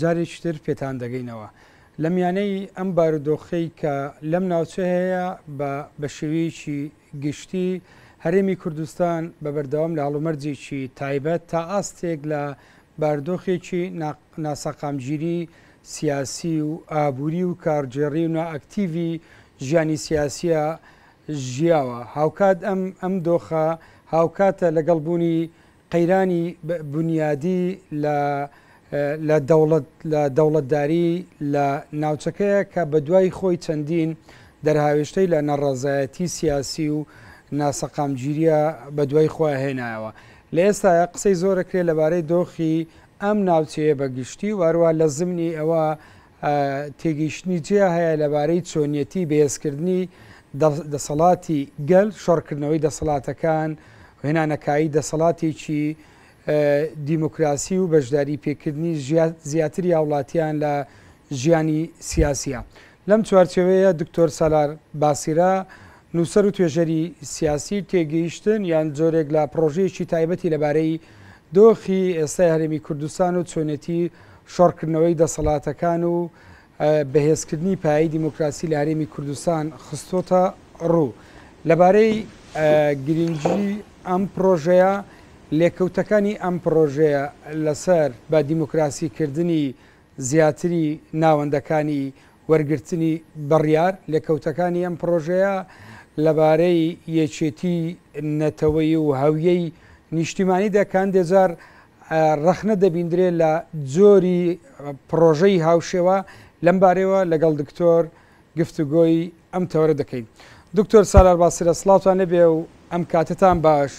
جارێکی تر پێتان دەگەینەوە. لە میانەی ئەم بارودۆخەی کە لەم ناوچەیەیە بە بە شێوەیەکی گشتی هەرێمی کوردستان بە بەردەوام لە هەڵومەرجێکی تایبەت تا ئاستێک لە باردۆخێکی ناسەقامگیری سیاسی و ئابووری و کارگێڕی و نائەکتیڤی ژیانی سیاسیە ژیاوە. هاوکات ئەم ئەم دۆخە هاوکاتە لەگەڵ بوونی قەیرانی بونیادی لە لە دەوڵەت لە دەوڵەتداری لە ناوچەکەیە کە بەدوای خۆی چەندین دەرهاوێشتەی لە نەڕەزایەتی سیاسی و ناسەقامگیریە بەدوای خۆیا هێنایەوە لە ئێستایا قسەی زۆرەکرێ لەبارەی دۆخی ئەم ناوچەیە بەگشتی و هەروا لە زمنی ئەوە تێگەیشتنی جیا هەیە لەبارەی چۆنیەتی بەهێزکردنی دەسەڵاتی گەل شەڕکردنەوەی دەسەڵاتەکان هێنانەکایی دەسەڵاتێکی دیموکراسی و بەشداری پێکردنی زیاتری هاوڵاتیان لە ژیانی سیاسە لەم چوارچەوەیە دکتۆر سالار باسیرە نووسەر و توێژەری سیاسی، تێگەیشتن یان جۆرێک لە پڕۆژەیەکی تایبەتی لەبارەی دۆخی ئێستای هەرێمی کوردستان و چۆنێتی شۆڕکردنەوەی دەسەڵاتەکان و بەهێزکردنی پایەی دیموکراسی لە هەرێمی کوردستان خستۆتە ڕوو. لەبارەی گرنگی ئەم پڕۆژەیە، لێکەوتەکانی ئەم پڕۆژەیە لەسەر بە دیموکراسیکردنی زیاتری ناوەندەکانی وەرگرتنی بڕیار، لێکەوتەکانی ئەم پڕۆژەیە لەبارەی یەکێتی نەتەوەیی و هەویەی نیشتیمانی دەکەن، دێجار ڕەخنە دەبیندرێ لە جۆری پڕۆژەی هاوشێوە، لەم بارەیەوە لەگەڵ دکتۆر. گفتوگۆی ئەم تەوەرە دەکەین. دکتۆر سالار باسرە سڵاوتان لێبێ و ئەم کاتەتان باش.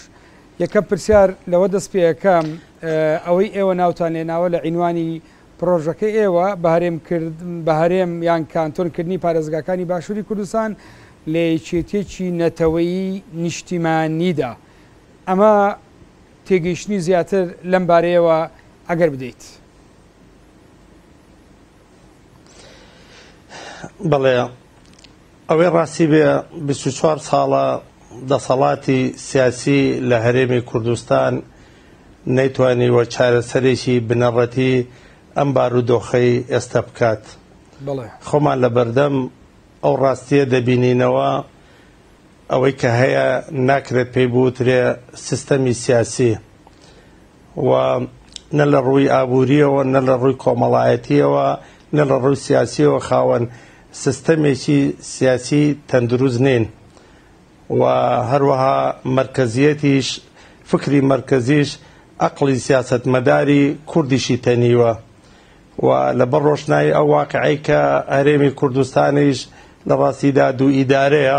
یەکەم پرسیار لەوە دەست پێ ئەکەم ئەوەی ئێوە ناوتان لێناوە لە عینوانی پڕۆژەکەی ئێوە بە هەرێم کرد بە هەرێم یان کانتۆن کردنی پارێزگاکانی باشووری کوردستان لە یەکێتیەکی نەتەوەیی نیشتیمانیدا ئەمە تێگەیشتنی زیاتر لەم بارەیەوە ئەگەر بدەیت. بەڵێ ئەوەی ڕاستی بێ 24 ساڵە دەسەڵاتی سیاسی لە هەرێمی کوردستان نەیتوانی وە چارەسەرێکی بنەڕەتی ئەم بارودۆخەی ئێستا بکات خۆمان لە بەردەم ئەو ڕاستیە دەبینینەوە ئەوەی کە هەیە ناکرێت پێی بوترێ سیستەمی سیاسی و نە لە ڕووی ئابوورییەوە، نە لە ڕووی کۆمەڵایەتییەوە، نە لە ڕووی سیاسییەوە خاوەن سیستەمێکی سیاسیی تەندروست نین و هەروەها مەرکەزییەتیش، فکری مەرکەزیش ئەقڵی سیاسەتمەداری کوردیشی تەنیوە و لەبەر ڕۆشنایی ئەو واقیعەی کە هەرێمی کوردستانیش لە ڕاستیدا دوو ئیدارەیە،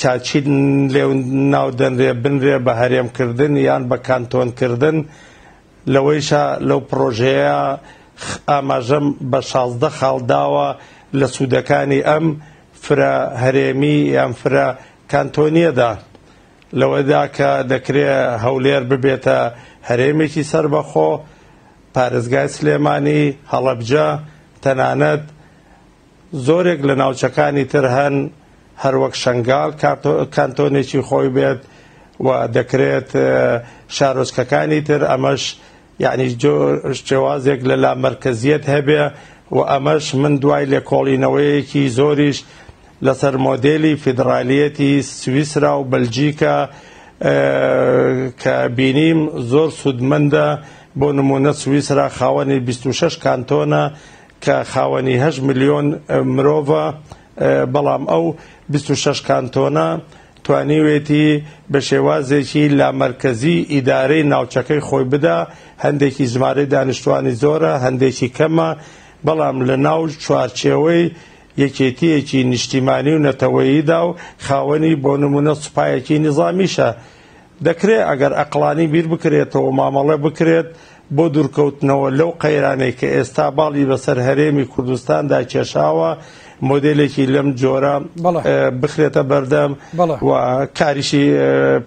تا چی لێو ناو دەنرێ بنرێ بە هەرێم کردن یان بە کانتۆن کردن لەوەیشا لەو پڕۆژەیە ئاماژەم بە شازدە خاڵ داوە لە سوودەکانی ئەم فرە هەرێمی یان فرە کانتۆنیەدا لەوەدا کە دەکرێ هەولێر ببێتە هەرێمێکی سەربەخۆ پارێزگای سلێمانی هەڵەبجە تەنانەت زۆرێک لە ناوچەکانی تر هەن هەروەک شەنگال کانتۆنێکی خۆی بێت و دەکرێت شارۆچکەکانی تر ئەمەش یعنی شێوازێک لە لا مرکزیت هەبێ و ئەمەش من دوای لێکۆڵینەوەیەکی زۆریش لەسەر مۆدێلی فیدرالیەتی سویسرا و بەلجیکە کە بینیم زۆر سوودمەندە بۆ نمونە سویسرا خاوەنی 26 کانتۆنە کە خاوەنی هەشت ملیۆن مرۆڤە، بەڵام ئەو بیست و شەش کانتۆنە توانیوێتی بە شێوازێکی لامەرکەزی ئیدارەی ناوچەکەی خۆی بدا، هەندێکی ژمارەی دانیشتووانی زۆرە، هەندێکی کەمە، بەڵام لە ناو چوارچێوەی یەکێتییەکی نیشتیمانی و نەتەوەییدا و خاوەنی بۆ نموونە سوپایەکی نیزامیشە، دەکرێت ئەگەر ئەقڵانی بیر بکرێتەوە مامەڵە بکرێت بۆ دورکەوتنەوە لەو قەیرانەی کە ئێستا باڵی بەسەر هەرێمی کوردستاندا کێشاوە مۆدێلێکی لەم جۆرە بخرێتە بەردەم و کاریشی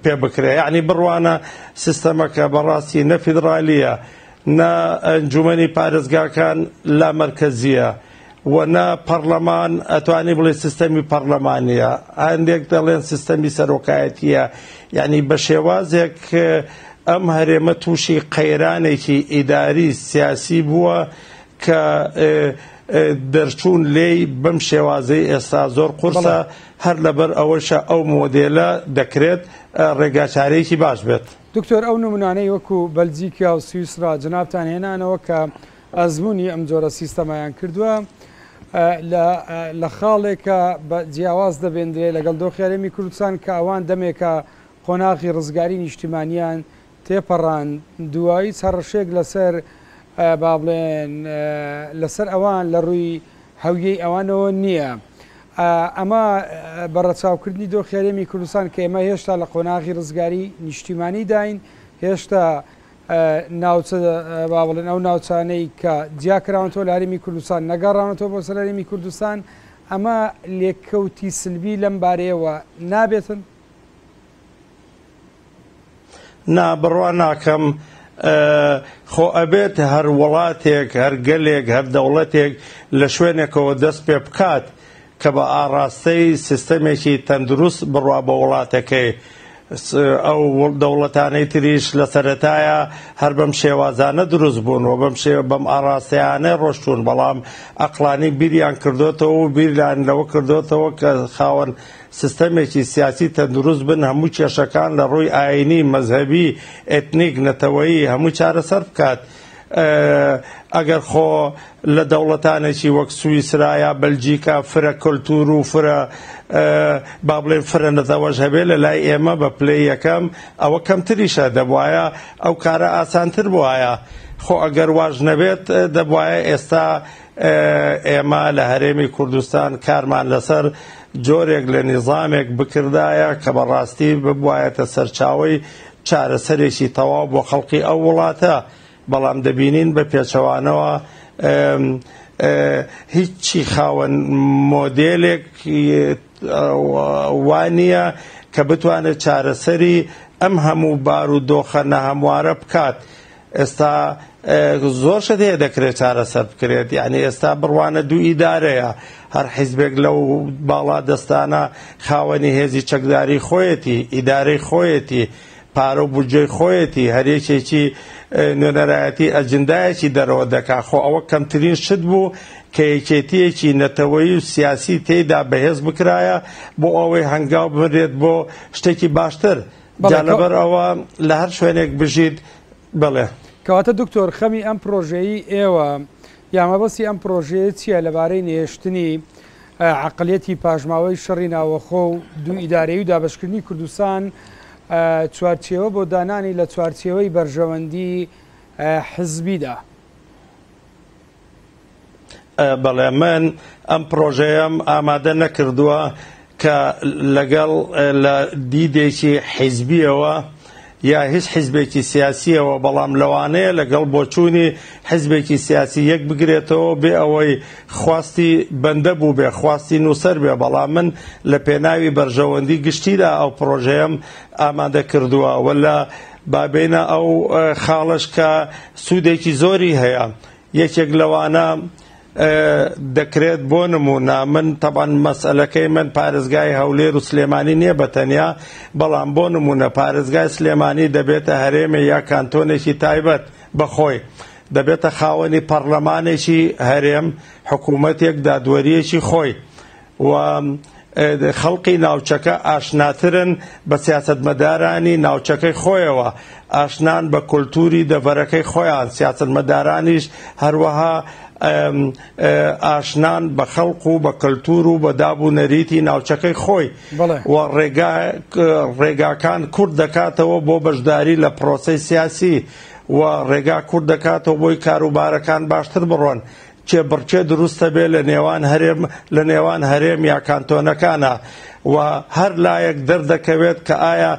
پێ بکرێت یعنی بڕوانە سیستەمەکە بەڕاستی نە فیدرالیە نە ئەنجومەنی پارێزگاکان لا مەرکەزیە وە نە پەڕلەمان ئەتوانی بڵێ سیستەمی پەڕلەمانیە هەندێک دەڵێن سیستەمی سەرۆکایەتیە یعنی بە شێوازێک ئەم هەرێمە تووشی قەیرانێکی ئیداری سیاسی بووە کە دەرچوون لێی بەم شێوازەی ئێستا زۆر قورسە هەر لەبەر ئەوەشە ئەو مۆدێلە دەکرێت ڕێگاچارێکی باش بێت دکتۆر ئەو نمونانەی وەکو بەلجیکا و سویسرا جنابتان هێنانەوە کە ئەزموونی ئەم جۆرە سیستەمەیان کردووە لە لە خاڵێکە بە جیاواز دەبێندرێ لەگەڵ دۆخی هەرێمی کوردستان کە ئەوان دەمێکە قۆناغی ڕزگاری نیشتیمانیان تێپەڕان دوایی چەڕشێک لەسەر با بڵێن لەسەر ئەوان لە ڕووی هەویەی ئەوانەوە نییە ئەمە بە ڕەچاوکردنی دۆخی هەرێمی کوردستان کە ئێمە هێشتا لە قۆناغی ڕزگاری نیشتیمانی داین هێشتا ناوچە با بڵێن ئەو ناوچانەی کە جیاکراونەتەوە لە هەرێمی کوردستان نەگەڕاونەتەوە بۆ سەرەرێمی کوردستان ئەمە لێککەوتی سلبی لەم بارەیەوە نابێتن نا بڕوا ناکەم خۆ ئەبێت هەر وڵاتێک هەر گەلێک هەر دەوڵەتێک لە شوێنێکەوە دەست پێ بکات کە بە ئاڕاستەی سیستەمێکی تەندروست بڕوا بە وڵاتەکەی، ئەو دەوڵەتانەی تریش لە سەرەتایا هەر بەم شێوازانە دروست بوون و بەم شێ بەم ئاڕاستەیانە ڕۆشتوون، بەڵام ئەقڵانی بیریان کردۆتەوە و بیریان لەوە کردۆتەوە کە خاوەن سیستەمێکی سیاسی تەندروست بن، هەموو کێشەکان لە ڕووی ئایینی، مەزهەبی، ئێتنیک، نەتەوەیی، هەمووی چارەسەر بکات. ئەگەر خۆ لە دەوڵەتانێکی وەک سویسرا یا بەلجیکا فرە کەلتور و فرە با بڵێن فرە نەتەوەش هەبێ لە لای ئێمە بە پلەی یەکەم ئەوە کەمتریشە دەبواە ئەو کارە ئاسانتر بواە خۆ ئەگەر واش نەبێت دەبواە ئێستا ئێمە لە هەرێمی کوردستان کارمان لەسەر جۆرێک لە نیزامێک بکردایە کە بەڕاستی ببوایەتە سەرچاوی چارەسەرێکی تەواو بۆ خەڵقی ئەو وڵاتە، بەڵام دەبینین بە پێچەوانەوە هیچی خاوەن مۆدێلێک وا نییە کە بتوانێت چارەسەری ئەم هەموو بارودۆخە ناهەموارە بکات. ئێستا زۆر شت هەیە دەکرێت چارەسەر بکرێت یعنی ئێستا بڕوانە دوو ئیدارەیە هەر حیزبێک لەو باڵا دەستانە خاوەنی هێزی چەکداری خۆیەتی ئیدارەی خۆیەتی پارە و بودجەی خۆیەتی هەرێکێکی نوێنەرایەتی ئەجندایەکی دەرەوە دەکا خۆ ئەوە کەمترین شت بوو کە یەکێتیەکی نەتەوەی و سیاسی تێیدا بەهێز بکرایە بۆ ئەوەی هەنگاو بنرێت بۆ شتێکی باشتر جا لەبەر ئەوە لە هەر شوێنێک بژیت بڵێ. کەواتە دکتۆر خەمی ئەم پرۆژەیی ئێوە یا مەبەستی ئەم پرۆژەیە چیە لەبارەی نەهێشتنی عەقڵیەتی پاشماوەی شەڕی ناوەخۆ و دوو ئیدارەیی و دابەشکردنی کوردستان چوارچێوە بۆ دانانی لە چوارچێوەی بەرژەوەندی حزبیدا؟ بەڵێ من ئەم پڕۆژەیەم ئامادە نەکردووە کە لەگەڵ لە دیدێکی حیزبیەوە یا هیچ حیزبێکی سیاسیەوە بەڵام لەوانەیە لەگەڵ بۆچوونی حیزبێکی سیاسی یەک بگرێتەوە بێ ئەوەی خواستی بەندە بوو بێ خواستی نووسەر بێ بەڵام من لە پێناوی بەرژەوەندی گشتیدا ئەو پرۆژەیەم ئامادە کردووە وە لە با بێینە ئەو خاڵەش کە سوودێکی زۆری هەیە، یەکێک لەوانە دەکرێت بۆ نموونە من تەبعەن مەسەلەکەی من پارێزگای هەولێر و سلێمانی نییە بە تەنیا، بەڵام بۆ نموونە پارێزگای سلێمانی دەبێتە هەرێمێ یا کانتۆنێکی تایبەت بە خۆی، دەبێتە خاوەنی پەڕلەمانێکی هەرێم، حکوومەتێک، دادوەرییەکی خۆی. و خەڵقی ناوچەکە ئاشناترن بە سیاسەتمەدارانی ناوچەکەی خۆیەوە، ئاشنان بە کولتووری دەڤەرەکەی خۆیان، سیاسەتمەدارانیش هەروەها ئاشنان بە خەڵق و بە کەلتوور و بە داب و نەریتی ناوچەکەی خۆی و ڕێگاکان کورد دەکاتەوە بۆ بەشداری لە پرۆسەی سیاسی و ڕێگا کورد دەکاتەوە بۆی کاروبارەکان باشتر بڕۆن کێبڕکێ دروستە بێ لە نێوان هەرێم لە نێوان هەرێم یا کانتۆنەکانە و هەر لایەک دەردەکەوێت کە ئایا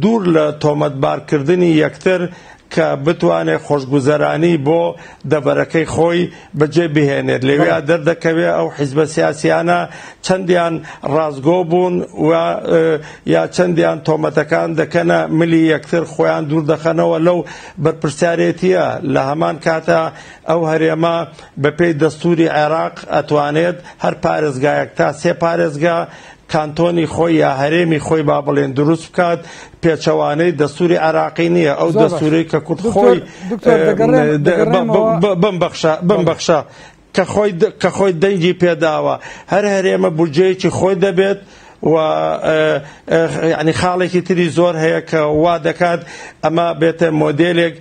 دوور لە تۆمەتبارکردنی یەکتر کە بتوانێ خۆشگوزەرانی بۆ دەبەرەکەی خۆی بەجێ بهێنێت لەوێ دەردەکەوێ ئەو حیزبە سیاسیانە چەندیان ڕازگۆ بوون و یا چەندیان تۆمەتەکان دەکەنە ملی یەکتر خۆیان دوور دەخەنەوە لەو بەرپرسیارێتیە لە هەمان کاتە ئەو هەرێمە بە پێی دەستووری عێراق ئەتوانێت هەر پارێزگایەک تا سێ پارێزگا کانتۆنی خۆی یا هەرێمی خۆی با بڵێن دروست بکات پێچەوانەی دەستوری عراقی نییە ئەو دەستوری کە کورد خۆی بمبخشە بمبخشە کە خۆی کە خۆی دەنگی پێداوە هەر هەرێمە بودجەیەکی خۆی دەبێت و یانی خاڵێکی تری زۆر هەیە کە وا دەکات ئەمە بێتە مۆدلێک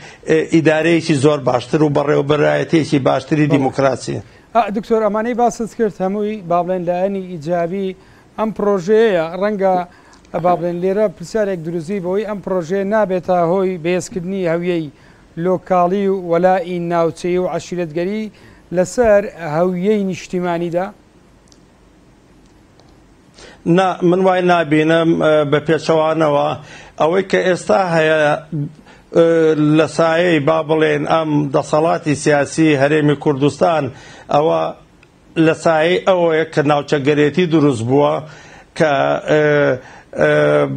ئیدارەیەکی زۆر باشتر و بەڕێوەبەرایەتێکی باشتری دیموکراسی دکتۆر ئەمانەی باست کرد هەمووی با بڵێن لایەنی ئیجابی ئەم پرۆژەیە ڕەنگە با بڵێن لێرە پرسیارێک دروزی بەوەی ئەم پرۆژەیە نابێتە هۆی بەهێزکردنی هەویەی لۆکاڵی و وەلائی ناوچەی و عشیرەتگەری لەسەر هەویەی نیشتیمانیدا نا من وای نابینم بە پێچەوانەوە ئەوەی کە ئێستا هەیە لە سایەی با بڵێن ئەم دەسەڵاتی سیاسی هەرێمی کوردستان ئەوە لە سایەی ئەوەیە کە ناوچەگەرێتی دروست بووە کە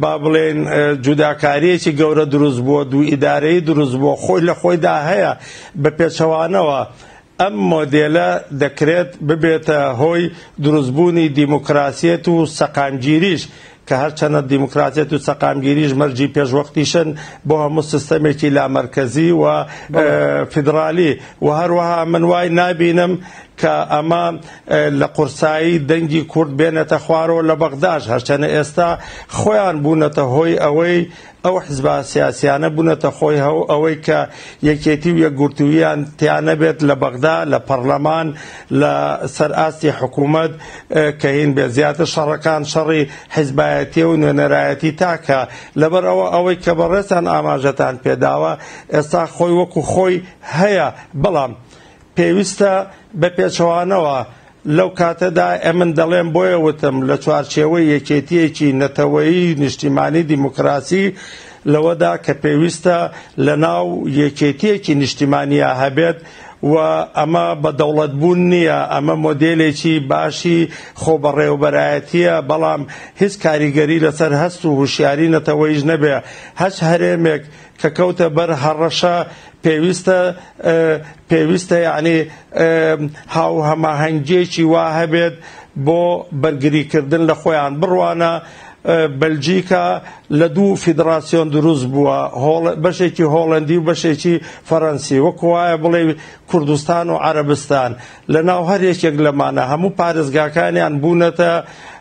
با بڵێن جوداکاریەکی گەورە دروست بووە دوو ئیدارەی دروست بووە خۆی لە خۆیدا هەیە بە پێچەوانەوە ئەم مۆدێلە دەکرێت ببێتە هۆی دروستبوونی دیموکراسیەت و سەقامگیریش، کە هەرچەنە دیموکراسیەت و سەقامگیریش مەرجی پێشوەختیشن بۆ هەموو سیستەمێکی لامەرکەزی و فیدرالی و هەروەها من وای نابینم کە ئەمە لە قورسایی دەنگی کورد بێنێتە خوارەوە لە بەغداش، هەرچەنە ئێستا خۆیان بوونەتە هۆی ئەوەی ئەو حزبە سیاسیانە بونەتە خۆی هەو ئەوەی کە یەکێتی و یەکگورتووییان تیا نەبێت لە بەغدا، لە پەڕلەمان، لە سەر ئاستی حکوومەت کە هین بێت. زیاتر شەڕەکان شەڕی حزبایەتیە و نوێنەرایەتی تاکە. لەبەر ئەوە ئەوەی کە بەڕێزتان ئاماژەتان پێداوە ئێستا خۆی وەکو خۆی هەیە بەڵام، پێویستە بە پێچەوانەوە، لەو کاتەدا ئەمن دەڵێم بۆیە وتم لە چوارچێوەی یەکێتییەکی نەتەوەیی نیشتیمانی دیموکراسی لەوەدا کە پێویستە لە ناو یەکێتییەکی نیشتیمانییا هەبێت و ئەمە بە دەوڵەت بوون نییە، ئەمە مۆدێلێکی باشی خۆبەڕێوەبەرایەتییە بەڵام هیچ کاریگەری لەسەر هەست و هوشیاری نەتەوەیش نەبێ، هەچ هەرێمێک کە کەوتە بەر هەڕەشە پێویستە پێویستە یعنی هاوهەماهەنگیەکی وا هەبێت بۆ بەرگریکردن لە خۆیان بڕوانە بەلجیکا لە دوو فیدراسیۆن دروست بووە بەشێکی هۆڵندی و بەشێکی فەرەنسی وەکوایە بڵێ کوردستان و عربستان لە ناو هەر یەکێک لەمانە هەموو پارێزگاکانیان بوونەتە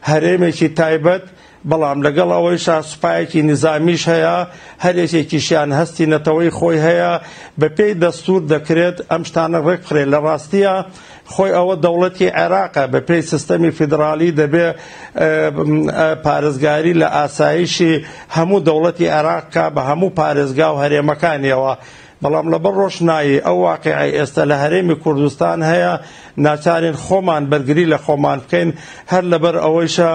هەرێمێکی تایبەت بەڵام لەگەڵ ئەوەیشا سوپایەکی نیزامیش هەیە، هەر یەکێکیشیان هەستی نەتەوەی خۆی هەیە، بەپێی دەستوور دەکرێت ئەم شتانە ڕێکبخرێت، لە ڕاستییا خۆی ئەوە دەوڵەتی عێراقە، بەپێی سیستەمی فیدراڵی دەبێ پارێزگاری لە ئاسایشی هەموو دەوڵەتی عێراق بکات بە هەموو پارێزگا و هەرێمەکانییەوە، بەڵام لەبەر ڕۆشنایی ئەو واقیعەی ئێستە لە هەرێمی کوردستان هەیە، ناچارین خۆمان بەرگری لە خۆمان بکەین، هەر لەبەر ئەوەیشە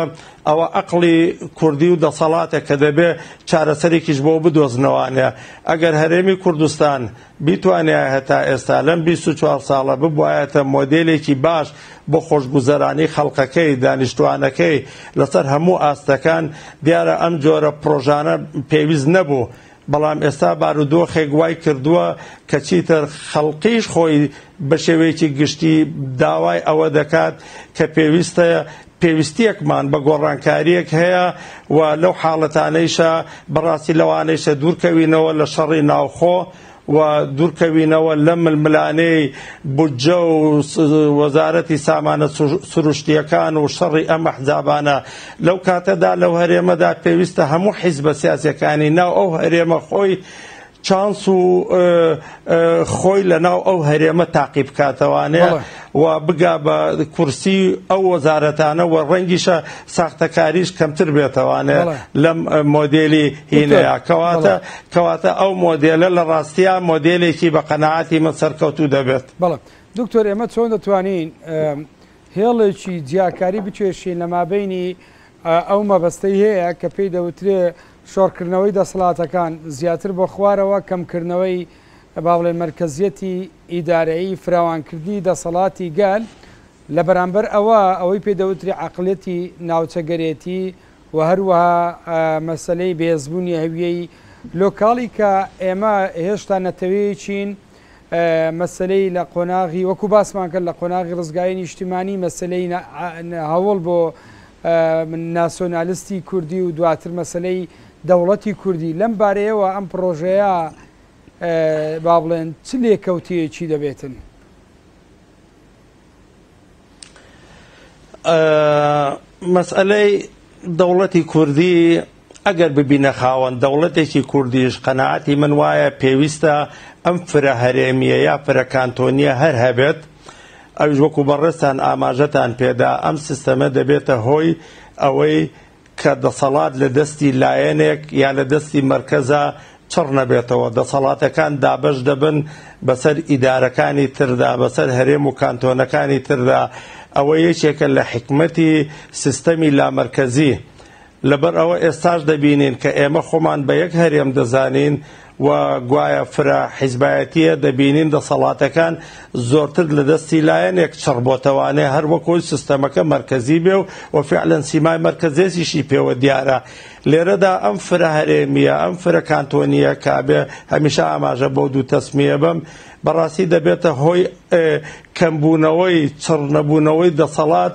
ئەوە ئەقڵی کوردی و دەسەڵاتە کە دەبێ چارەسەرێکیش بۆ بدۆزنەوانێ. ئەگەر هەرێمی کوردستان بیتوانیایه تا ئێستا لەم بیست و چوار ساڵە ببوایەتە مۆدێلێکی باش بۆ خۆشگوزەرانی خەڵقەکەی، دانیشتوانەکەی لەسەر هەموو ئاستەکان، دیارە ئەم جۆرە پرۆژانە پێویست نەبوو. بەڵام ئێستا بارودۆخێک وای کردووە کە چیتر خەڵکیش خۆی بە شێوەیەکی گشتی داوای ئەوە دەکات کە پێویستە پێویستیەکمان بە گۆڕانکاریەک هەیە و لەو حاڵەتانەیشە بەڕاستی لەوانەیشە دوورکەوینەوە لە شەڕی ناوخۆ و دوورکەوینەوە لەم ململانێی بودجە و وەزارەتی سامانە سروشتیەکان و شەڕی ئەم ئەحزابانە لەو کاتەدا لەو هەرێمەدا پێویستە هەموو حیزبە سیاسیەکانی ناو ئەو هەرێمە خۆی چانس و خۆی لە ناو ئەو هەرێمە تاقی بکاتەوانێ و بگا بە کورسی ئەو وەزارەتانە و ڕەنگیشە ساختەکاریش کەمتر بێتەوانێ لەم مۆدێلی هینەیە کەواتە کەواتە ئەو مۆدێلە لە ڕاستیا مۆدێلێکی بە قەنەعاتی من سەرکەوتوو دەبێت بەڵێ دکتۆر ئێمە چۆن دەتوانین هێڵێکی جیاکاری بکێشین لە مابینی ئەو مەبەستەی هەیە کە پێی دەوترێ شۆڕکردنەوەی دەسەڵاتەکان زیاتر بۆ خوارەوە، کەمکردنەوەی با بڵێین مەرکەزیەتی ئیدارەیی، فراوانکردنی دەسەڵاتی گەل، لە بەرامبەر ئەوە ئەوەی پێ دەوترێ عەقڵیەتی ناوچەگەرێتی و هەروەها مەسەلەی بەهێزبوونی هەویەی لۆکاڵی کە ئێمە هێشتا نەتەوەیەکین مەسەلەی لە قۆناغی وەکو باسمان کرد لە قۆناغی ڕزگاری نیشتیمانی مەسەلەی هەوڵ بۆ ناسۆنالستی کوردی و دواتر مەسەلەی دەوڵەتی کوردی لەم بارەیەوە ئەم پرۆژەیە با بڵێن چ لێکەوتەیەکی دەبێتن؟ مەسئەلەی دەوڵەتی کوردی ئەگەر ببینە خاوەن دەوڵەتێکی کوردیش قەنەعاتی من وایە پێویستە ئەم فرە هەرێمیە یا فرە کانتۆنیە هەر هەبێت ئەوش وەکو بەڕێستان ئاماژەتان پێدا ئەم سیستەمە دەبێتە هۆی ئەوەی کە دەسەڵات لە دەستی لایەنێک یا لە دەستی مەرکەزا چڕ نەبێتەوە، دەسەڵاتەکان دابەش دەبن بەسەر ئیدارەکانی تردا، بەسەر هەرێم و کانتۆنەکانی تردا، ئەوە یەکێکە لە حیکمەتی سیستەمی لامەرکەزی، لەبەر ئەوە ئێستاش دەبینین کە ئێمە خۆمان بە یەک هەرێم دەزانین، و گوایە فرە حیزبایەتیە دەبینین دەسەڵاتەکان زۆرتر لە دەستی لایەنێک چڕ بۆتەوانێ هەر وەک ئەوی سستەمەکە مەرکەزی بێ و فعلەن سیمای مەرکەزێزیشی پێوە دیارە لێرەدا ئەم فرە هەرێمیە ئەم فرە کانتۆنیە کابێ هەمیشە ئاماژە بۆ دوو تەسمیە بەم بەڕاستی دەبێتە هۆی کەمبوونەوەی چڕ نەبوونەوەی دەسەڵات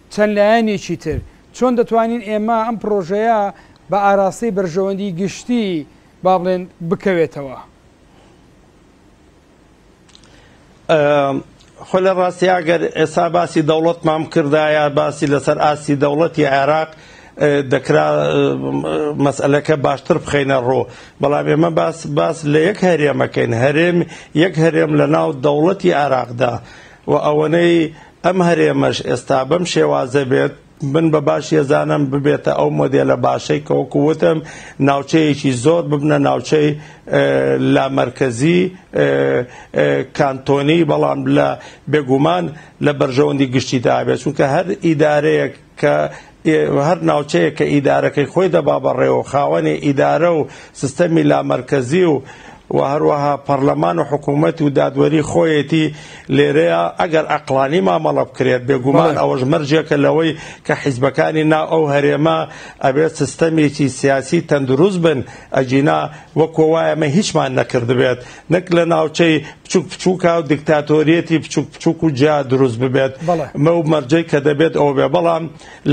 چەند لایەنێکی تر، چۆن دەتوانین ئێمە ئەم پڕۆژەیە بە ئاراستەی بەرژەوەندی گشتی با بڵێن بکەوێتەوە؟ خۆ لە ڕاستی ئەگەر ئێستا باسی دەوڵەتمان بکردایە باسی لەسەر ئاستی دەوڵەتی عێراق دەکرا مەسئلەکە باشتر بخینە ڕۆ بەڵام ئێمە باس باس لە یەک هەرێمەکەین هەرێم یەک هەرێم لە ناو دەوڵەتی عێراقدا و ئەوەنەی ئەم هەرێمەش ئێستا بەم شێوازە بێت، من بە باش یەزانم ببێتە ئەو مۆدێلە باشەی کە وەکو وتم ناوچەیەکی زۆر ببنە ناوچەی لامەرکەزی کانتۆنی، بەڵام لە بێگومان لە بەرژەوەندی گشتیدا بێت، چونکە هەر ئیدارەیەک، کە هەر ناوچەیەک کە ئیدارەکەی خۆی دەبا بەڕێوە و خاوەنی ئیدارە و سستەمی لامەرکەزی و و هەروەها پەڕلەمان و حکوومەت و دادوەری خۆیەتی لێرەیە ئەگەر ئەقلانی مامەڵە بکرێت بێگومان ئەوەش مەرجێکە لەوەی کە حیزبەکانی ناو ئەو هەرێمە ئەبێت سستەمێکی سیاسی تەندروست بن ئەگینا وەکۆ وایە مە هیچمان نەکردبێت نەک لە ناوچەی بچوک بچوکە و دیکتاتۆریەتی بچوک بچوک و جیا دروست ببێت مە و مەرجەی کە دەبێت ئەو بێ بەڵام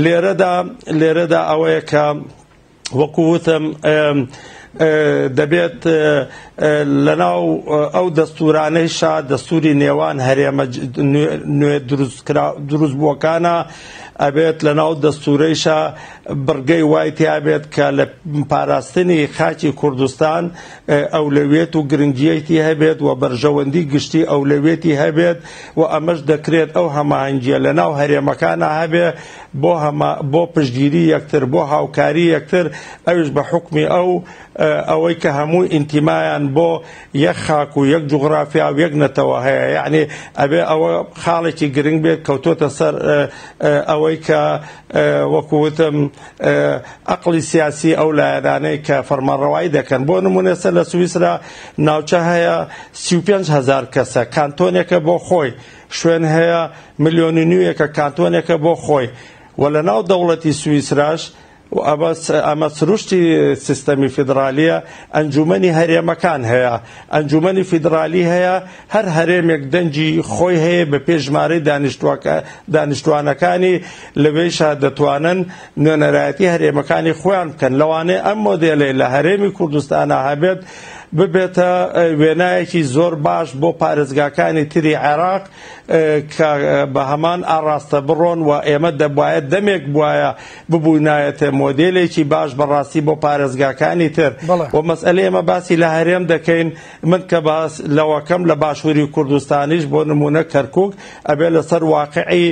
لێرەدا لێرەدا ئەوەیە کە وەکووتم دەبێت لەناو ئەو دەستورانەی شا دەستوری نێوان هەرێمە نوێ دروست بووەکانە ئەبێت لە ناو دەستورەیشە بڕگەی وای تیابێت کە لە پاراستنی خاچی کوردستان ئەولەویەت و گرنگیەیتی هەبێت و بەرژەوەندی گشتی ئەولەویەتی هەبێت و ئەمەش دەکرێت ئەو هەماهەنگیە لەناو هەرێمەکانا هەبێ بۆ هەما بۆ پشتگیری یەکتر بۆ هاوکاری یەکتر ئەویش بە حوکمی ئەو ئەوەی کە هەموو ئینتیمایان بۆ یەک خاک و یەک جوغرافیا و یەک نەتەوە هەیە یعنی ئەبێ ئەوە خاڵێکی گرنگ بێت کەوتۆتە سەر ئەوەی کە وەکووتم ئەقڵی سیاسی ئەو لایەنانەی کە فەرمانڕەوایی دەکەن بۆ نمونە ئێستا لە سویسرا ناوچە هەیە سی و پێنج هەزار کەسە کانتۆنێکە بۆ خۆی شوێن هەیە ملیۆن و نیوێکە کانتۆنێکە بۆ خۆی و لە ناو دەوڵەتی سویسراش و ئەمە س- ئەمە سروشتی سیستەمی فیدرالیە ئەنجومەنی هەرێمەکان هەیە ئەنجومەنی فیدرالی هەیە هەر هەرێمێک دەنگی خۆی هەیە بە پێی ژمارەی دانیشتوانەکانی، لەوێیشە دەتوانن نوێنەرایەتی هەرێمەکانی خۆیان بکەن، لەوانەیە ئەم مۆدێلەی لە هەرێمی کوردستانا هەبێت ببێتە وێنایەکی زۆر باش بۆ پارێزگاکانی تری عێراق کە بە هەمان ئاڕاستە بڕۆن و ئێمە دەبوایە دەمێک بواە ببووینایەتێ مۆدێلێکی باش بەڕاستی بۆ پارێزگاکانی تر و مەسئلە ئێمە باسی لە هەرێم دەکەین من کە باس لەوەکەم لە باشوری کوردستانیش بۆ نمونە کەرکوک ئەبێ لەسەر واقعی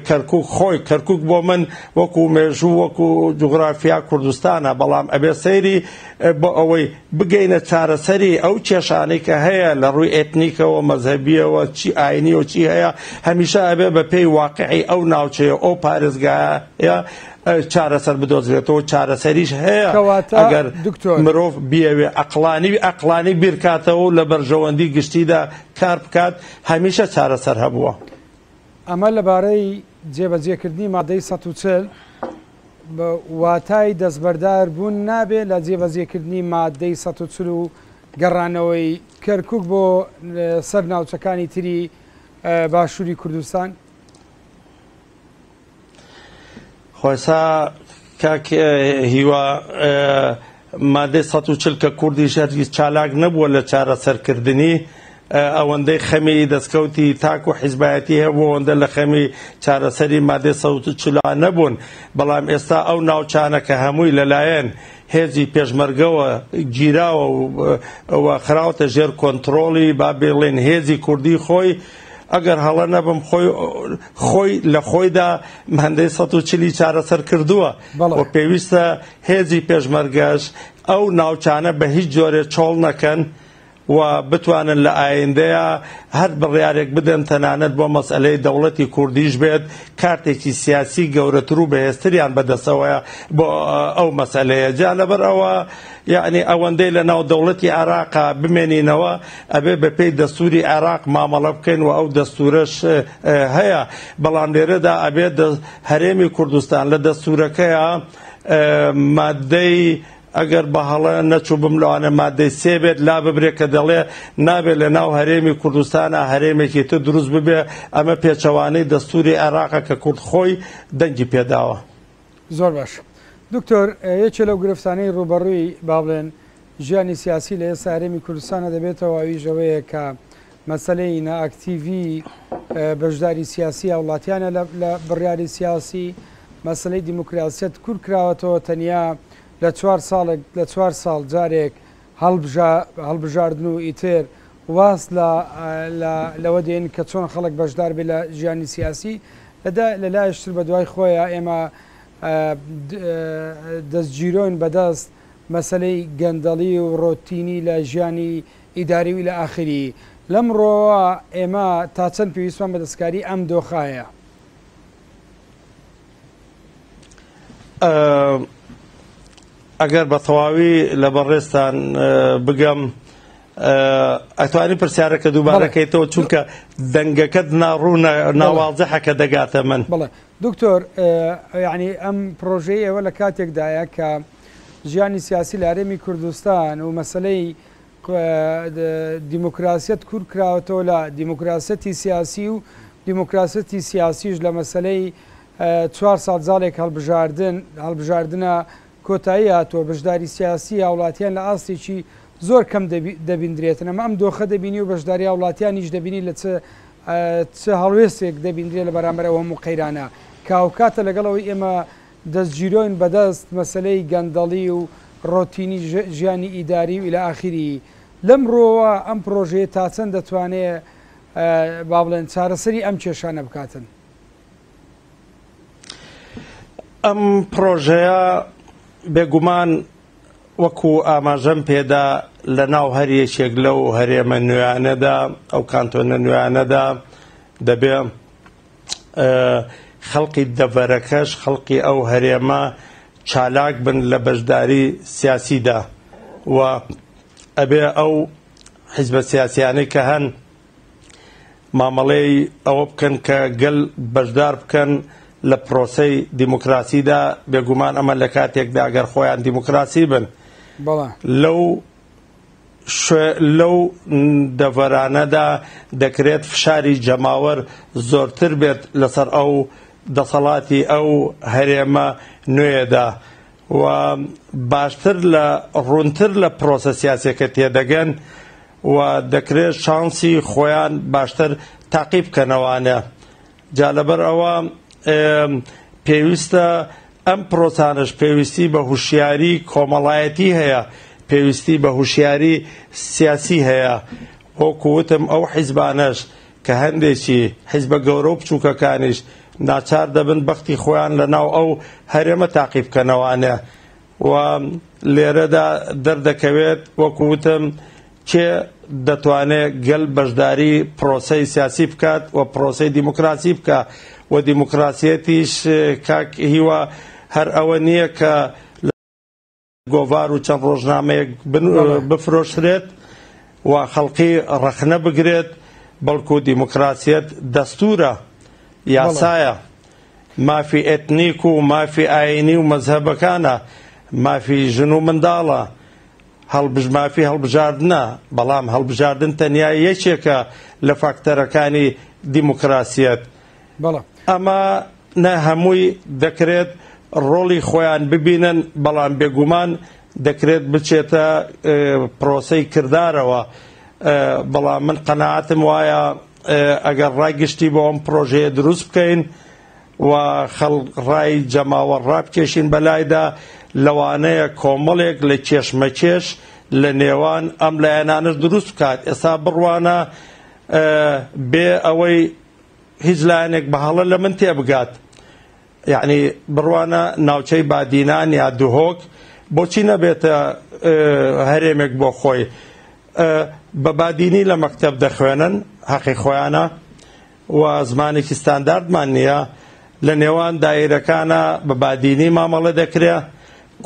کەرکوک خۆی کەرکوک بۆ من وەکو مێژوو وەکو جوغرافیا کوردستانە بەڵام ئەبێ سەیری بۆ ئەوەی بگەینە چارەسەری ئەو کێشانەی کە هەیە لە ڕووی ئێتنیکەوە مەزهبیەوە چی ئاینی و چی هەیە هەمیشە ئەبێ بە پێی واقعی ئەو ناوچەیە ئەو پارێزگایە چارەسەر بدۆزرێتەوە چارەسەریش هەیە کەواتە ئەگەر دکتۆر مرۆڤ بیەوێ ئەقلانی ئەقلانی بیرکاتەوە و لە بەرژەوەندی گشتیدا کار بکات هەمیشە چارەسەر هەبووە. ئەمە لەبارەی جێبەجێکردنی مادەی سەد و چل بە واتای دەستبەردار بوون نابێ لە جێبەجێکردنی مادەی سەد و چل و گەڕانەوەی کەرکوک بۆ سەر ناوچەکانی تری باشووری کوردستان؟ خوایسا کاک هیوا مادەی سەد و چل کە کوردیش هەرگیز چالاک نەبووە لە چارەسەرکردنی ئەوەندەی خەمی دەستکەوتی تاک و حیزبایەتی هەیە بۆ ئەوەندە لە خەمی چارەسەری مادەی سەوت و چلا نەبوون بەڵام ئێستا ئەو ناوچانە کە هەمووی لەلایەن هێزی پێشمەرگەوە گیراوە و خراوەتە ژێر کۆنتترۆڵی با بڵێن هێزی کوردی خۆی ئەگەر هەڵە نەبم خۆی خۆی لە خۆیدا هەندەی سەد و چلی چارەسەر کردووە بەڵێ. و پێویستە هێزی پێشمەرگەش ئەو ناوچانە بە هیچ جۆرێ چۆڵ نەکەن و بتوانن لە ئایندەیا هەر بڕیارێک بدەن تەنانەت بۆ مەسئەلەی دەوڵەتی کوردیش بێت کارتێکی سیاسی گەورەتر و بەهێزتریان بە دەستەوەیە بۆ ئەو مەسئەلەیە جا لەبەر ئەوە یەعنی ئەوەندەی لە ناو دەوڵەتی عێراقا بمێنینەوە ئەبێ بە پێی دەستوری عێراق مامەڵە بکەین و ئەو دەستورەش هەیە بەڵام لێرەدا ئەبێ هەرێمی کوردستان لە دەستورەکەیە مادەی ئەگەر بە هەڵە نەچوو بم لەوانە مادەی سێ بێت لا ببرێت کە دەڵێ نابێت لە ناو هەرێمی کوردستانە هەرێمێکی تر دروست ببێ ئەمە پێچەوانەی دەستوری عێراقە کە کورد خۆی دەنگی پێداوە. زۆر باش دکتۆر یەکێ لەو گرفتانەی ڕووبەڕووی با بڵێن ژیانی سیاسی لە ئێستا هەرێمی کوردستانە دەبێتەوە ئەویش ئەوەیە کە مەسەلەی نائەکتیڤی بەشداری سیاسی هاوڵاتیانە لە بڕیاری سیاسی مەسلەی دیموکراسیەت کورد کراوەتەوە تەنیا لە چوار ساڵێک لە چوار ساڵ جارێک هەڵبژاردن و ئیتر واز لەوە دێن کە چۆن خەڵک بەشدار بێت لە ژیانی سیاسی دا، لە لایەش تر بە دوای خۆیا ئێمە دەستگیرۆین بە دەست مەسەلەی گەندەڵی و ڕۆتینی لە ژیانی ئیداری و الی اخره لەم ڕووەوە ئێمە تا چەند پێویستمان بە دەستکاری ئەم دۆخە هەیە. ئەگەر بە تەواوی لە بەڕێزتان بگەم ئەتوانی پرسیارەکە دووبارەکەیتەوە چونکە دەنگەکەت ناڕوو ناوازەحەکە دەگاتە من بڵێ دکتۆر ینی ئەم پرۆژەی ئێوە لە کاتێکدایە کە ژیانی سیاسی لارێمی کوردستان و مەسلەی دیموکراسیەت کور کراوەتەوە لە دیموکراسیەتی سیاسی و دیموکراسیەتی سیاسیش لە مەسەلەی چوار ساڵ جاڵێک هەڵبژاردن هەڵبژاردنە کۆتایی هاتووە، بەشداری سیاسی هاوڵاتیان لە ئاستێکی زۆر کەم دەبیندرێتن، ئەمە ئەم دۆخە دەبینی و بەشداری هاوڵاتیانیش دەبینی لە چ چ هەڵوێستێک دەبیندرێت لە بەرامبەر ئەو هەموو قەیرانە کە هاوکاتە لەگەڵ ئەوەی ئێمە دەستگیرۆین بەدەست مەسەلەی گەندەڵی و ڕۆتینی ژیانی ئیداری و الی اخیری لەم ڕوەوە ئەم پرۆژەیە تاچەند دەتوانێ با بڵێن چارەسەری ئەم کێشانە بکاتن؟ ئەم پرۆژەیە بێگومان وەکو ئاماژەم پێدا لە ناو هەر یەکێک لەو هەرێمە نوێیانەدا ئەو کانتۆنە نوێیانەدا دەبێ خەڵقی دەڤەرەکەش خەڵقی ئەو هەرێمە چالاک بن لە بەشداری سیاسیدا و ئەبێ ئەو حیزبە سیاسیانەی کە هەن مامەڵەی ئەوە بکەن کە گەل بەشدار بکەن لە پرۆسەی دیموکراسیدا بێگومان ئەمە لە کاتێکدا گەر خۆیان دیموکراسی بن لەو لەو دەڤەرانەدا دەکرێت فشاری جەماوەر زۆرتر بێت لەسەر ئەو دەسەڵاتی ئەو هەرێمە نوێیەدا و باشتر لە ڕوونتر لە پرۆسە سیاسیەکە تێدەگەن و دەکرێت شانسی خۆیان باشتر تاقی بکەنەوانە. جا لەبەر ئەوە پێویستە ئەم پرۆسانەش پێویستی بە هوشیاری کۆمەڵایەتی هەیە پێویستی بە هوشیاری سیاسی هەیە وەکوتم ئەو حیزبانەش کە هەندێکی حیزبە گەورە و بچووکەکانیش ناچار دەبن بەختی خۆیان لە ناو ئەو هەرێمە تاقیبکەنەوانە و لێرەدا دەردەکەوێت وەکو وتم کێ دەتوانێ گەل بەشداری پرۆسەی سیاسی بکات و پرۆسەی دیموکراسی بکە و دیموکراسیەتیش کاک هیوا هەر ئەوە نییە کە گۆڤار و چەند ڕۆژنامەیەک بفرۆشرێت و خەڵقی ڕەخنە بگرێت بەڵکو دیموکراسیەت دەستورە یاسایە مافی ئێتنیک و مافی ئایینی و مەزهەبەکانە، مافی ژن و منداڵە، هەڵبژ مافی هەڵبژاردنە، بەڵام هەڵبژاردن تەنیا یەکێکە لە فاکتەرەکانی دیموکراسیەت. بەڵام. ئەمە نە هەمووی دەکرێت ڕۆڵی خۆیان ببینن، بەڵام بێگومان دەکرێت بچێتە پرۆسەی کردارەوە، بەڵام من قەناعەتم وایە، ئەگەر ڕای گشتی بۆ ئەم پرۆژەیە دروست بکەین و خەڵک ڕای جەماوەر ڕابکێشین بەلایدا لەوانەیە کۆمەڵێک لە کێشمەکێش لە نێوان ئەم لایەنانەش دروست بکات ئێستا بڕوانە بێ ئەوەی هیچ لایەنێک بە هەڵە لە من تێبگات یەعنی بڕوانە ناوچەی بادینان یا دهۆک بۆچی نەبێتە هەرێمێک بۆ خۆی بە بادینی لە مەکتەب دەخوێنن هەقی خۆیانە و زمانێکی ستانداردمان نییە لە نێوان دایرەکانە بە بادینی مامەڵە دەکرێ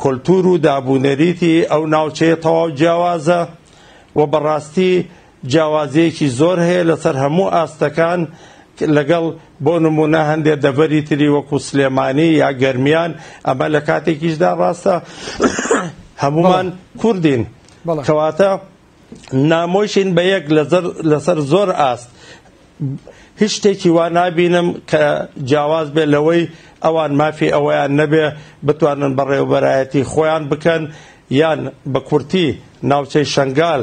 کولتور و دابوونەریتی ئەو ناوچەیە تەواو جیاوازە و بەڕاستی جیاوازییەکی زۆر هەیە لەسەر هەموو ئاستەکان لەگەڵ بۆ نموونە هەندێ دەڤەری تری وەکو سلێمانی یا گەرمیان ئەمە لە کاتێکیشدا ڕاستە هەمومان کوردین کەواتە نامۆشین بە یەک لەسەر زۆر ئاست هیچ شتێکی وا نابینم کە جیاواز بێ لەوەی ئەوان مافی ئەوەیان نەبێ بتوانن بەڕێوبەرایەتی خۆیان بکەن یان بە کورتی ناوچەی شنگال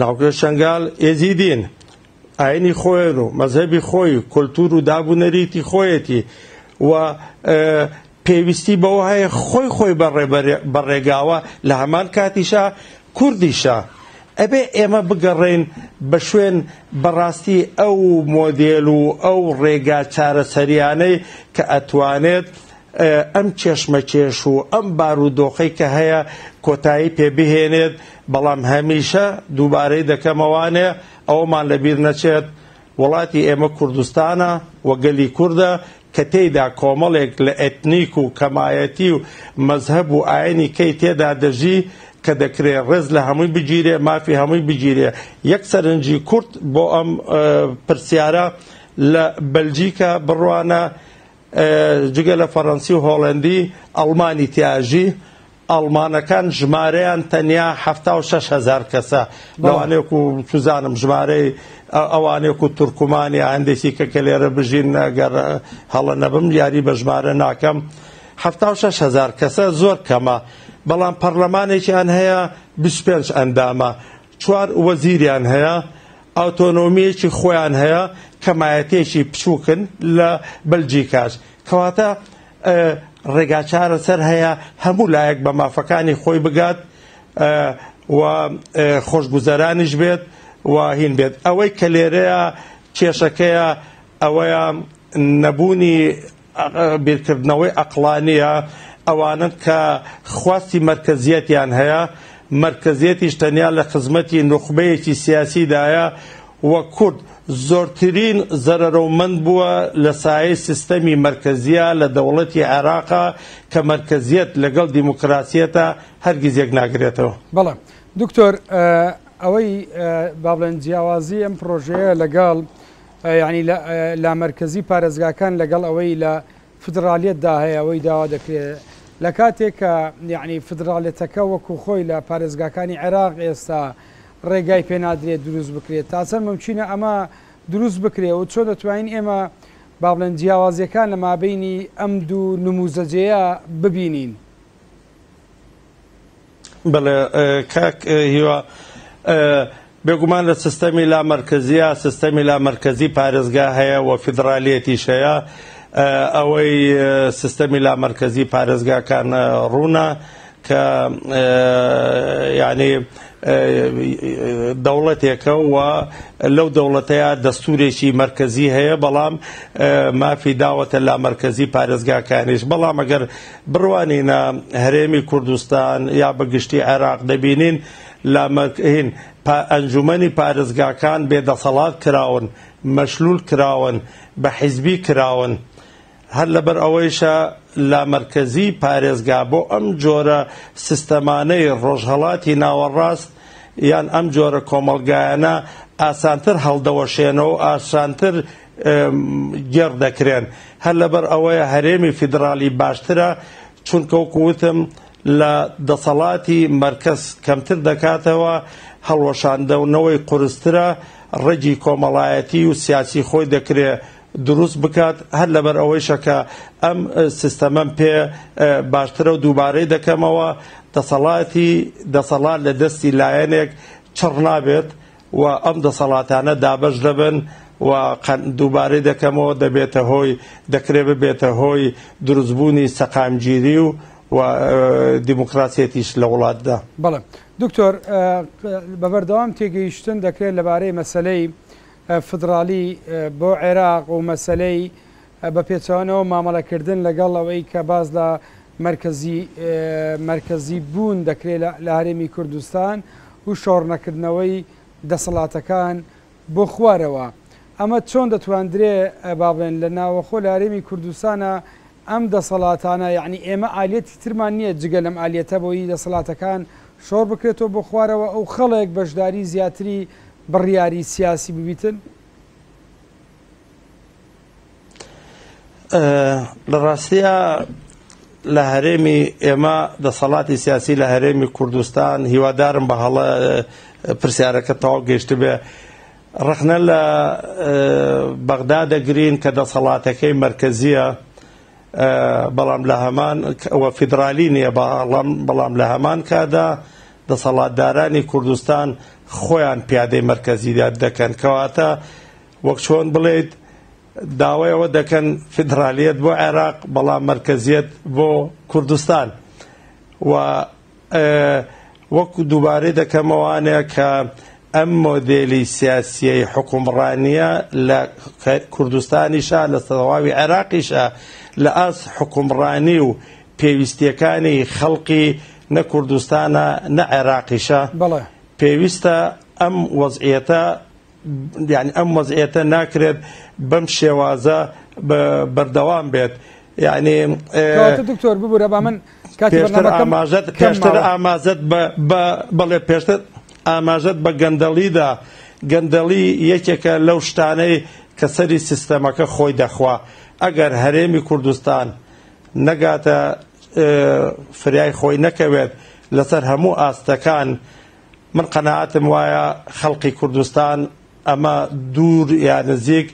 ناوکەی شەنگال ئێزیدین، ئاینی خۆیان و مەزهەبی خۆی و کولتوور و داب و نەریتی خۆیەتی و پێویستی بەوە هەیە خۆی خۆی بە ڕێگاوە لە هەمان کاتیشا کوردیشە. ئەبێ ئێمە بگەڕێین بە شوێن بە ڕاستی ئەو مۆدێل و ئەو ڕێگا چارەسەریانەی کە ئەتوانێت ئەم کێشمەکێش و ئەم بارودۆخەی کە هەیە کۆتایی پێ بهێنێت، بەڵام هەمیشە دووبارەی دەکەمەوانێ ئەوەمان لە بیر نەچێت وڵاتی ئێمە کوردستانە و گەلی کوردە کە تێیدا کۆمەڵێک لە ئێتنیک و کەمایەتی و مەزهەب و ئاینی کەی تێدا دەژی کە دەکرێ ڕێز لە هەمووی بگیرێ مافی هەمووی بگیرێ یەک سەرنجی کورت بۆ ئەم پرسیارە لە بەلجیکا بڕوانە جگە لە فەرەنسی و هۆڵەندی، ئەڵمانی تیاژی، ئەڵمانەکان ژمارەیان تەنیا حەفتا و شەش هەزار کەسە، لەوانەیەک و چزانم ژمارەی ئەوانێک و تورکمان یا هەندێکی کە کە لێرە بژین گەر هەڵە نەبم یاری بە ژمارە ناکەم، حەفتا و شەش هەزار کەسە زۆر کەمە، بەڵام پەڕلەمانێکیان هەیە بیست و پێنج ئەندامە، چوار وەزیریان هەیە، ئاتۆنۆمییەکی خۆیان هەیە، کەمایەتییەکی بچووکن لە بەلجیکاش. کەواتە ڕێگا چارەسەر هەیە هەموو لایەک بە مافەکانی خۆی بگات و خۆشگوزەرانیش بێت و هین بێت. ئەوەی کە لێرەیا کێشەکەیە ئەوەیە نەبوونی. بیرکردنەوەی عەقڵانییە ئەوانەن کە خواستی مەرکەزییەتیان هەیە، مەرکەزییەتیش تەنیا لە خزمەتی نوخبەیەکی سیاسیدایە و کورد زۆرترین زەرەرەومەند بووە لە سایەی سیستەمی مەرکەزییە لە دەوڵەتی عێراق کە مەرکەزییەت لەگەڵ دیموکراسییەتا هەرگیز یەک ناگرێتەوە. بەڵێ دکتۆر ئەوەی بابلێن جیاوازی ئەم پرۆژەیە لەگەڵ یەعنی لە لامەرکەزی پارێزگاکان لەگەڵ ئەوەی لە فیدڕالیەتدا هەیە ئەوەی داوا دەکرێت لە کاتێک کە یەعنی فیدڕالیەتەکە وەکو خۆی لە پارێزگاکانی عێراق ئێستا ڕێگای پێ نادرێت دروست بکرێت تا چەند ممچینە ئەمە دروست بکرێت و چۆن دەتوانین ئێمە با بڵێن جیاوازیەکان لە مابینی ئەم دوو نموزەجێیە ببینین. بەڵێ کاک هیوا بێگومان لە سیستەمی لامەرکەزیە سیستەمی لامەرکەزی پارێزگا هەیە و فیدرالیەتیش هەیە ئەوەی سیستەمی لامەرکەزی پارێزگاکان ڕوونە کە یعنی دەوڵەتێکە و لەو دەوڵەتەیە دەستورێکی مرکزی هەیە بەڵام مافی داوەتە لامەرکزی پارێزگاکانیش بەڵام ئەگەر بڕوانینە هەرێمی کوردستان یا بە گشتی عێراق دەبینین لە مەکهین پا ئەنجومەنی پارێزگاکان بێ دەسەڵات کراون، مەشلول کراون، بە حیزبی کراون. هەر لەبەر ئەوەیشە لا مەرکەزی پارێزگا بۆ ئەم جۆرە سیستەمانەی ڕۆژهەڵاتی ناوەڕاست یان ئەم جۆرە کۆمەڵگایانە ئاسانتر هەڵدەوەشێنەوە و ئاسانتر گێڕ دەکرێن هەر لەبەر ئەوەیە هەرێمی فیدڕاڵی باشترە چونکە وەکو وتم لە دەسەڵاتی مەرکەز کەمتر دەکاتەوە هەڵوەشاندەونەوەی قورسترە ڕەگی کۆمەڵایەتی و سیاسی خۆی دەکرێ دروست بکات هەر لەبەر ئەوەیشە کە ئەم سیستەمەم پێ باشترە و دووبارەی دەکەمەوە دەسەڵاتی دەسەڵات لە دەستی لایەنێک چڕ نابێت و ئەم دەسەڵاتانە دابەش دەبن و دووبارەی دەکەمەوە دەبێتە هۆی دەکرێت ببێتە هۆی دروست بوونی سەقامگیری و و دیموکراسیەتیش لە وڵاتدا. بەڵێ دکتۆر بەبەردەوام تێگەیشتن دەکرێت لەبارەی مەسەلەی فدرالی بۆ عێراق و مەسەلەی بە پێچەوانەوە مامەڵەکردن لەگەڵ ئەوەی کە باس لە مەرکەزی مەرکەزی بوون دەکرێت لە لە هەرێمی کوردستان و شۆڕ نەکردنەوەی دەسەڵاتەکان بۆ خوارەوە ئەمە چۆن دەتواندرێ بابێن لە ناوەخۆ لە هەرێمی کوردستانە ئەم دەسەڵاتانە یعنی ئێمە ئالیەتی ترمان نییە جگە لەم ئالیەتە بۆی دەسەڵاتەکان شۆڕ بکرێتەوە بۆ خوارەوە ئەو خەڵێک بەشداری زیاتری بڕیاری سیاسی ببیتن لە ڕاستیە لە هەرێمی ئێمە دەسەڵاتی سیاسی لە هەرێمی کوردستان هیوادارم بە هەڵە پرسیارەکە تەواو گەشت بێ ڕخنە لە بەغدا دەگرین کە دەسەڵاتەکەی مرکزیە بەڵام لە هەمان ئەوە فیدرالی نییە بەڵام بەڵام لە هەمان کادا دەسەڵاتدارانی کوردستان خۆیان پیادەی مرکزیداد دەکەن کەواتە وەک چۆن بڵێیت داوای ئەوە دەکەن فیدرالیەت بۆ عێراق بەڵام مەرکەزیەت بۆ کوردستان و وەکو دووبارەی دەکەمەوانێ کە ئەم مۆدێلی سیاسیەی حکومڕانیە لە کوردستانیشە لە سەواوی عێراقیشە لە ئاس حکومڕانی و پێویستیەکانی خەڵقی نە کوردستانە نە عێراقیشە پێویستە ئەم وەزعیەتە یانی ئەم وەزعیەتە ناکرێت بەم شێوازە بەردەوام بێت یعنی دکتۆر ببوورە با من ئاماژەت پێشتر ئاماژەت بەڵێ پێشتر ئاماژەت بە گەندەڵیدا گەندەڵی یەکێکە لەو شتانەی کە سەری سیستەمەکە خۆی دەخوا ئەگەر هەرێمی کوردستان نەگاتە فریای خۆی نەکەوێت لەسەر هەموو ئاستەکان من قەناعەتم وایە خەڵقی کوردستان ئەمە دوور یا نزیک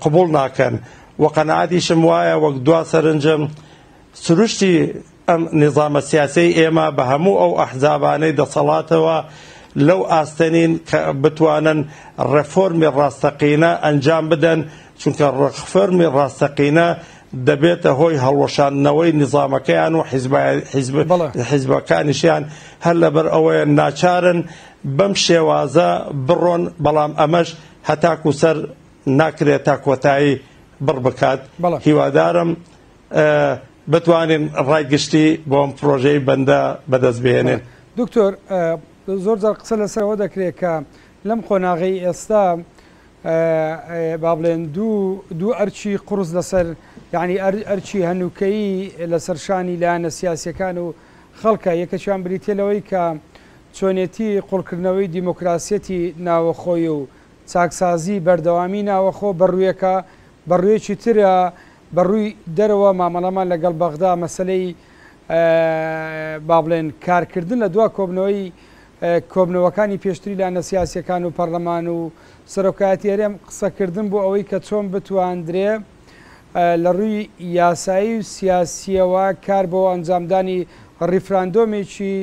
قبوڵ ناکەن و قەناعەتیشم وایە وەک دوا سەرنجم سروشتی ئەم نیزامە سیاسەی ئێمە بە هەموو ئەو ئەحزابانەی دەسەڵاتەوە لەو ئاستەنین کە بتوانن ڕێفۆرمی ڕاستەقینە ئەنجام بدەن چونکە ڕخفەرمی ڕاستەقینە دەبێتە هۆی هەڵوەشاندنەوەی نیزامەکەیان و حیزبەکانیشیان هەر لەبەر ئەوەیە ناچارن بەم شێوازە بڕۆن، بەڵام ئەمەش هەتاکوو سەر ناکرێت تا کۆتایی بڕ بکات، هیوادارم بتوانین ڕای گشتی بۆ ئەم پرۆژەی بەندە بەدەست بهێنین. دکتۆر، زۆر جار قسە لەسەر ئەوە دەکرێت کە لەم قۆناغەی ئێستا با بڵێن دوو دوو ئەرکی قوڕس لەسەر یانی ئەرکی هەنووکەیی لەسەر شانی لایەنە سیاسیەکان و خەڵکە یەکەکیان بریتە لەوەی کە چۆنێتی قوڵکردنەوەی دیموکراسیەتی ناوەخۆی و چاکسازی بەردەوامی ناوەخۆ بەڕوویەکە بەڕوویەکی ترە بەڕووی دەرەوە مامەڵەمان لەگەڵ بەغدا مەسەلەی با بڵێن کارکردن لە دوا کۆبنەوەی کۆبنەوەکانی پێشتری لانە سیاسیەکان و پەرلەمان و سەرۆکایەتی هەرێم قسەکردن بۆ ئەوەی کە چۆن بتواندرێ لە ڕووی یاسایی و سیاسیەوە کار بۆ ئەنجامدانی ڕیفراندۆمێکی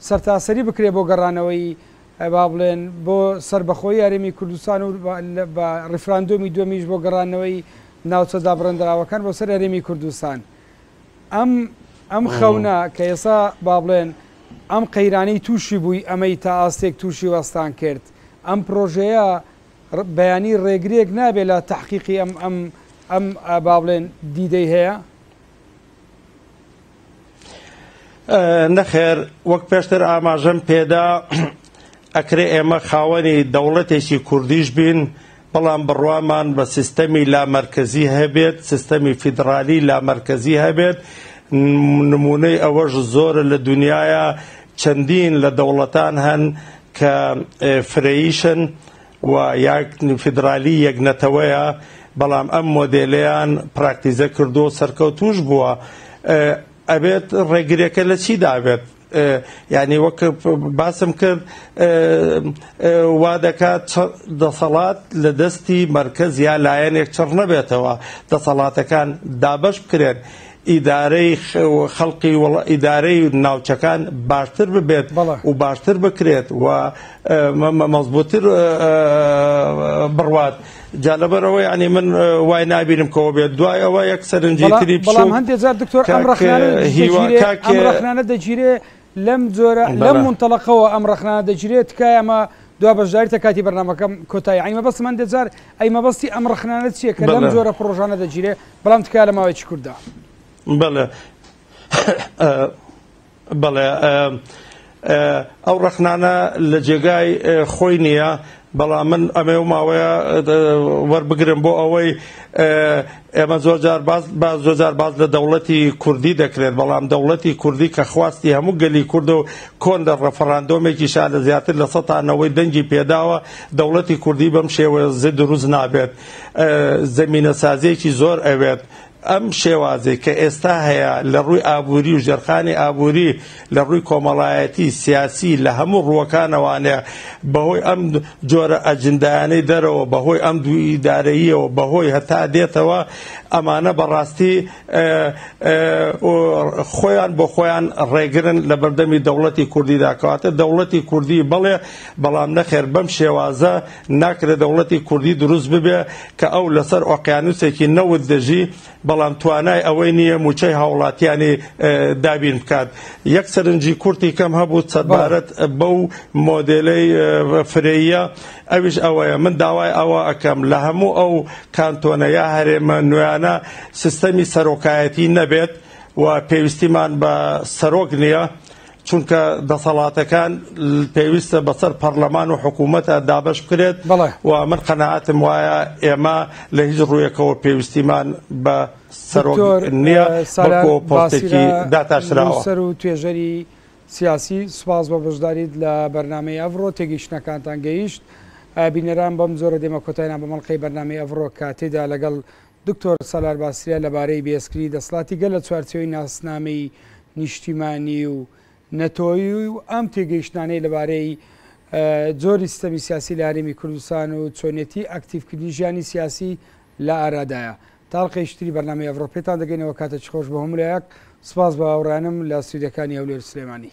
سەرتاسەری بکرێ بۆ گەڕانەوەی با بڵێن بۆ سەربەخۆی هەرێمی کوردستان و بە ڕیفراندۆمی دومیش بۆ گەڕانەوەی ناوچە دابڕێندراوەکان بۆ سەر هەرێمی کوردستان. ئەم ئەم خەونە کە ئێسا با بڵێن ئەم قەیرانەی تووشی بووی ئەمەی تا ئاستێک تووشی وەستان کرد ئەم پرۆژەیە بەیانی ڕێگرێک نابێت لە تحقیقی ئەم ئەم ئەم با بڵێن دیدەی هەیە نەخێر وەک پێشتر ئاماژەم پێدا ئەکرێ ئێمە خاوەنی دەوڵەتێکی کوردیش بین بەڵام بڕوامان بە سیستەمی لامەرکەزی هەبێت، سیستەمی فیدڕالی لامەرکەزی هەبێت، نموونەی ئەوەش زۆرە لە دونیایا، چەندین لە دەوڵەتان هەن کە فرەییشن و یا فیدڕالی یەک نەتەوەیە، بەڵام ئەم مۆدێلەیان پراکتیزە کردووە و سەرکەوتووش بووە. ئەبێت ڕێگریەکە لە چیدا بێت؟ یانی وەک باسم کرد وا دەکات دەسەڵات لە دەستی مەرکز یا لایەنێک چڕ نەبێتەوە دەسەڵاتەکان دابەش بکرێن ئیدارەی خەڵقی ئیدارەی ناوچەکان باشتر ببێت و باشتر بکرێت و مەمەزبووتر بڕوات جا لەبەر ئەوە یانی من وای نابینم کەەوە بێت دوای ئەوە یەک سەرنجی تری بڵام هەندێک جار دکتۆر ئەم ڕخنانە دەگیرێ لەم جۆرە لەم منتەڵقەوە ئەم ڕخنانە دەگیرێت تکای ئەمە دو بەشداریتە کاتی بەرنمەکەم کۆتایی ئەیمە بەس من دەجار ئەی مەبەستی ئەم ڕخنانە چیە کە لەم جۆرە پرۆژانە دەگیرێ بەڵام تکای لە ماوەیەکی کووردا بڵێ بەڵێ ئەو ڕەخنانە لە جێگای خۆی نییە، بەڵام من ئەمێ و ماوەیە وەربگرم بۆ ئەوەی ئێمە زۆر جار باز بە زۆر جار باز لە دەوڵەتی کوردی دەکرێت بەڵام دەوڵەتی کوردی کە خواستی هەموو گەلی کورد و کۆن لە ڕەفەڕاندۆمێکی شا لە زیاتر لە سەتانەوەی دەنگی پێداوە دەوڵەتی کوردی بەم شێوە زد دروست نابێت زمینە سازیەکی زۆر ئەوێت ئەم شێوازەی کە ئێستا هەیە لە ڕووی ئابووری و ژێرخانی ئابووری لە ڕووی کۆمەڵایەتی، سیاسی لە هەموو ڕووەکانەوانێ بە هۆی ئەم جۆرە ئەجندایانەی دەرەوە، بە هۆی ئەم دوو ئیدارەییەوە، بە هۆی هەتا دێتەوە ئەمانە بە ڕاستی خۆیان بۆ خۆیان ڕێگرن لە بەردەمی دەوڵەتی کوردیدا. کەواتە دەوڵەتی کوردی بەڵێ بەڵام نەخێر بەم شێوازە، ناکرێت دەوڵەتی کوردی دروست ببێ کە ئەو لەسەر ئۆقیانوسێکی نەوت دەژی بەڵام توانای ئەوەی نییە موچەی هاوڵاتیانی دابین بکات یەک سەرنجی کورتی کەم هەبوو سەبارەت بەو مۆدلەی فرەیە ئەویش ئەوەیە من داوای ئەوە ئەەکەم لە هەموو ئەو کانتۆنە یا هەرێمە نوێیانە سیستەمی سەرۆکایەتی نەبێت و پێویستیمان بە سەرۆک نییە. چونکە دەسەڵاتەکان پێویستە بەسەر پەرلەمان و حکوومەتە دابش بکرێت و من قەنەعاتم وایە ئێمە لە هیچ ڕوویەکەوە پێویستیمان بە سەرۆک نییە سەرۆ پۆستێکی داتاشراوە سەر و توێژەری سیاسی سوپاس بە بەشداریت لە بەرنمەی ئەڤڕۆ تێگەیشتنەکانتان گەیشت بینەران بەم زۆرە دێمە کۆتاینا بە مەڵلقەی بەرنامی ئەڤڕۆ کاتێدا لەگەڵ دکتۆر سالار باسریا لەبارەی بێسکلی دەسڵاتی گەل لە چوارچێوەی ناسنامەی نیشتیمانی و نەتەوەیی و ئەم تێگەیشتنانەی لەبارەی جۆری سیستەمی سیاسی لە هەرێمی کوردستان و چۆنیەتی ئەکتیڤکردنی ژیانی سیاسی لە ئارادایە تا هەڵقەیەکی تری بەرنامەی ئەڤڕۆ پێتان دەگەینەوە کاتەکی خۆش بە هەموولایەک سپاس بە هاوڕیانم لە ستودیەکانی هەولێر و سلێمانی.